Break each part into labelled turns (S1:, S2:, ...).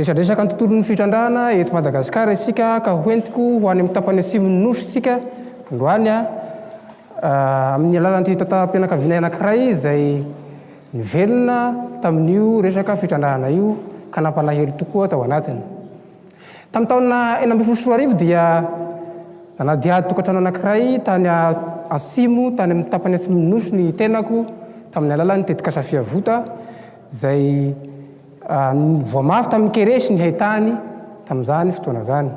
S1: Resadresaka ny tontolon'ny fitrandrahana eto Madagasikara isika ka ho entiko ho any amin'ny tapany atsimon'ny Nosy isika androany amin'ny alalan'ity tantaram-pianakavianay anankiray izay nivelona tamin'io resaka fitrandrahana io ka nampalahelo tokoa tao anatiny. Tamin'ny taona enina ambin'ny folo sy roa arivo dia nanadihady tokantrano anankiray tany atsimo tany amin'ny tapany atsimon'ny Nosy ny tenako tamin'ny alalan'ny tetikasa Fiavota izay Voamafy tamin'ny keresy ny haintany tamin'izany fotoana izany.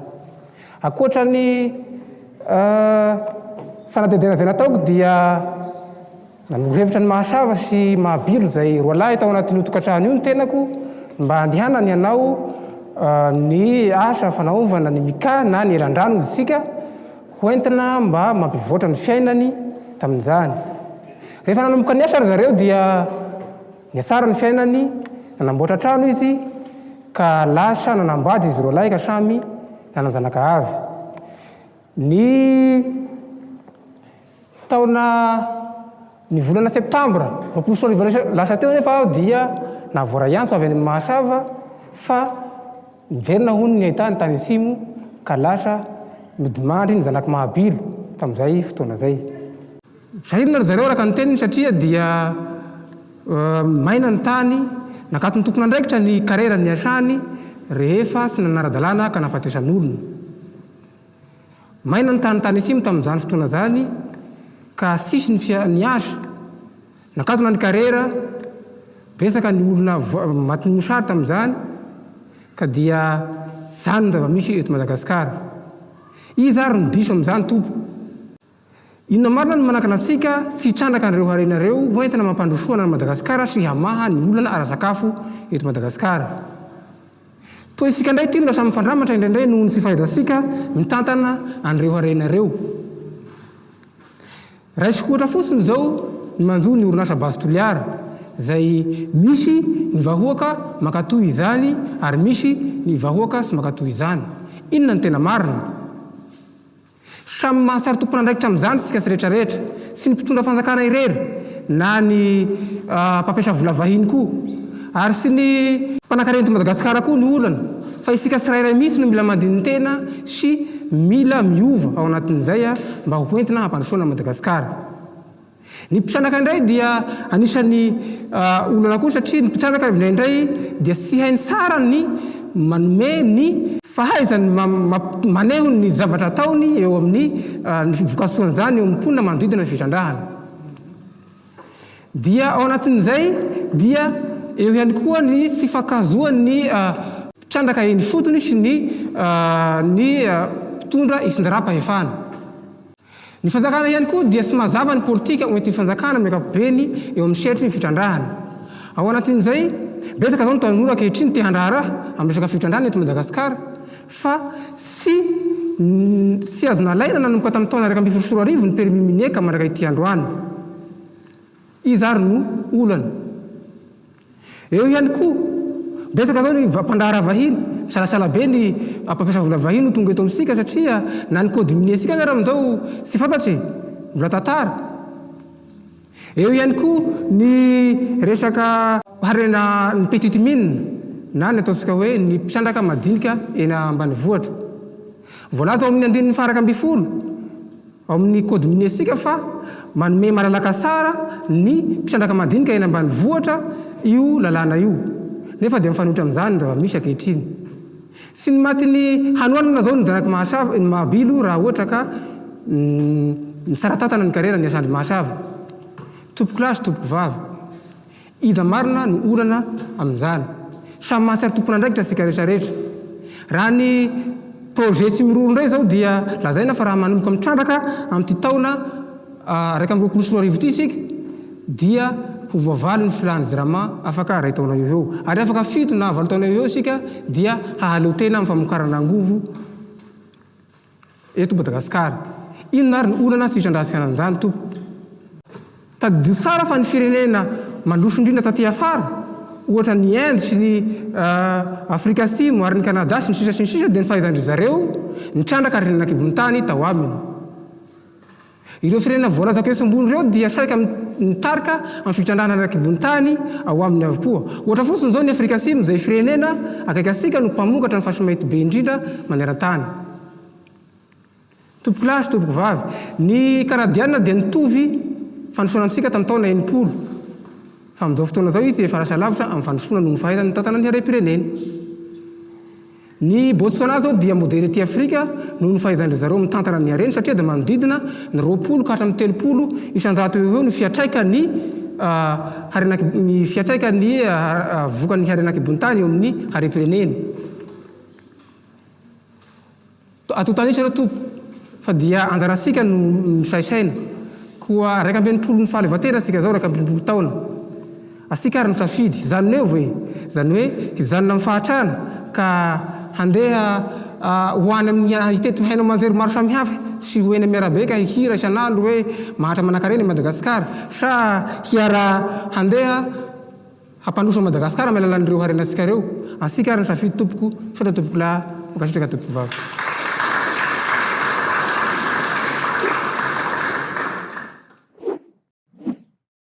S1: Ankoatra ny fanadihadiana izay nataoko dia nanoro-hevitra ny mahasava sy mahabilo izay roa lahy tao anatin'io tokantrano io ny tenako mba handehanany hanao ny asa fanaovana ny mika na ny elan-drano hoy isika ho entina mba mampivoatra ny fiainany tamin'izany. Rehefa nanomboka niasa ry zareo dia Nihatsara ny fiainany, nanamboatra trano izy, ka lasa nanambady izy roalahy ka samy nanan-janakavy. Ny taona ny volana septambra roapolo sy roa arivo lasa teo anefa aho dia nahavoaray antso avy any amin'ny Mahasava fa niverina hono ny haintany tany Atsimo ka lasa nodimandry ny zanak'i Mahabilo tamin'izay fotoana izay. Velona ry zareo araka ny teniny satria dia maina ny tany, nakaton'ny tompon'andraikitra ny karera niasany rehefa tsy nanara-dalàna ka nahafatesan'olona. Maina ny tany tany Atsimo tamin'izany fotoana izany ka tsisy ny fia, ny asa, nakatona ny karera, betsaka ny olona voa, matin'ny mosary tamin'izany ka dia izany ny zava-misy eto Madagasikara. Iza ary no diso amin'izany tompoko? Inona marina no manakana antsika tsy hitrandraka an'ireo harena ireo ho entina mampandrosoana an'i Madagasikara sy hamaha ny olana ara-sakafo eto Madagasikara? Toa isika indray ity no lasa mifandramatra indraindray noho ny tsy fahaizantsika mitantana an'ireo harena ireo. Raisiko ohatra fotsiny izao ny manjo ny orinasa Base Toliara, izay misy ny vahoaka mankatoa izany ary misy ny vahoaka tsy mankatoa izany. Inona no tena marina? Samy mahasary tompon'andraikitra amin'izany isika sy rehetra rehetra, tsy ny mpitondra fanjakana irery na ny mpampiasa vola vahiny koa, ary tsy ny mpanankarena eto Madagasikara koa no olana, fa isika tsirairay mihitsy no mila mandinin-tena sy mila miova ao anatin'izay mba hoentina hampandrosoana an'i Madagasikara. Ny mpitranaka indray dia anisan'ny olana koa satria ny mpitranaka indraindray dia tsy hainy tsara ny manome ny. Fahaizany maneho ny zavatra ataony eo amin'ny ny vokasoan'izany eo amin'ny mponina manodidina ny fitrandrahana. Dia ao anatin'izay dia eo ihany koa ny tsy fankahazoan'ny mpitrandraka eny ifotony sy ny ny mpitondra isindaram-pahefana. Ny fanjakana ihany koa dia tsy mazava ny politika ho entin'ny fanjakana amin'ny ankapobeny eo amin'ny sehatry ny fitrandrahana. Ao anatin'izay, betsaka izao ny tanora ankehitriny te handraharaha amin'ny resaka fitrandrahana eto Madagasikara fa tsy tsy azo nalaina nanomboka tamin'ny taona iraika ambin'ny folo sy roa arivo ny permis minier ka mandrak'ity androany. Iza ary no olana? Eo ihany koa, betsaka izao ny mpandraharaha vahiny. Misalasala be ny mpampiasa vola vahiny ho tonga eto amintsika satria na ny code minier-ntsika aza ary amin'izao tsy fantatra e! Mbola tantara. Eo ihany koa ny resaka harena ny petite mine na ny ataontsika hoe ny mpisandraka madinika eny ambanivohitra. Voalaza ao amin'ny andininy faha-iraika ambin'ny folo ao amin'ny kaodin'ny Esika fa manome malalaka tsara ny mpitrandraka madinika eny ambanivohitra io lalàna io, nefa dia mifanohitra amin'izany ny zava-misy ankehitriny. Tsy ny matin'ny hanoanana izao no janaky Mahasava, ny Mahabilo, raha ohatra ka mitsara tantana ny karera ny Asandry Mahasava. Tompokolahy sy tompokovavy. Iza marina no olana amin'izany? Samy mahatsiaro tompon'andraikitra isika rehetra rehetra. Raha ny projet tsy miroro indray izao dia lazaina fa raha manomboka mitrandraka amin'ity taona iraika amby roapolo sy roa arivo ity isika dia ho voavaly ny filàn'ny Jirama afaka iray taona eo ho eo. Ary afaka fito na valo taona eo ho eo isika dia hahaleo tena amin'ny famokarana angovo. Eto Madagasikara. Inona ary ny olana sy fisandrahasiana an'izany tompoko? Tadidio tsara fa ny firenena mandroso indrindra taty afara, ohatra ny Inde sy ny Afrika Atsimo ary ny Canada sy ny sisa sy ny sisa dia ny fahaizan-dry zareo nitrandraka renan'ankibon'ny tany tao aminy. Ireo firenena voalaza etsy ambony ireo dia saika mitarika amin'ny fitrandrahana ny rakibontany ao aminy avokoa. Ohatra fotsiny izao ny Afrika Atsimo izay firenena akaiky antsika no mpamokatra ny fasimainty be indrindra manerantany. Tompoko lahy sy tompoko vavy, ny Kanadiana dia nitovy fandrosoana amintsika tamin'ny taona enimpolo, fa amin'izao fotoana izao izy dia efa lasa lavitra amin'ny fandrosoana noho ny fahaizany mitantana ny harem-pireneny. Ny Botswana izao dia modely ety Afrika noho ny fahaizan-dry zareo mitantana ny hareny satria dia manodidina ny roapolo ka hatramin'ny telopolo isan-jato eo ho eo ny fiantraikan'ny harena ny fiantraikan'ny vokan'ny harena an-kibon'ny tany eo amin'ny harem-pireneny. Antontanisa ireo Tompo fa dia anjarantsika no misaisaina koa raika ambin'ny folo no fahaleovantena tsika zao raika ambirompolo taona atsika ary misafidy izany neovo e izany hoe hijanona amin'ny fahatrana ka handeha ho any amin'ny hitety haino aman-jery maro samihafa sy ho eny amin'ny arabe ka hihira isan'andro hoe mahantra manankarena i Madagasikara sa hiara handeha Hampandroso an'i Madagasikara amin'ny alalan'ireo harenantsika ireo antsika ary ny safidy tompoko misaotra tompokolahy mankasitraka tompokovavy.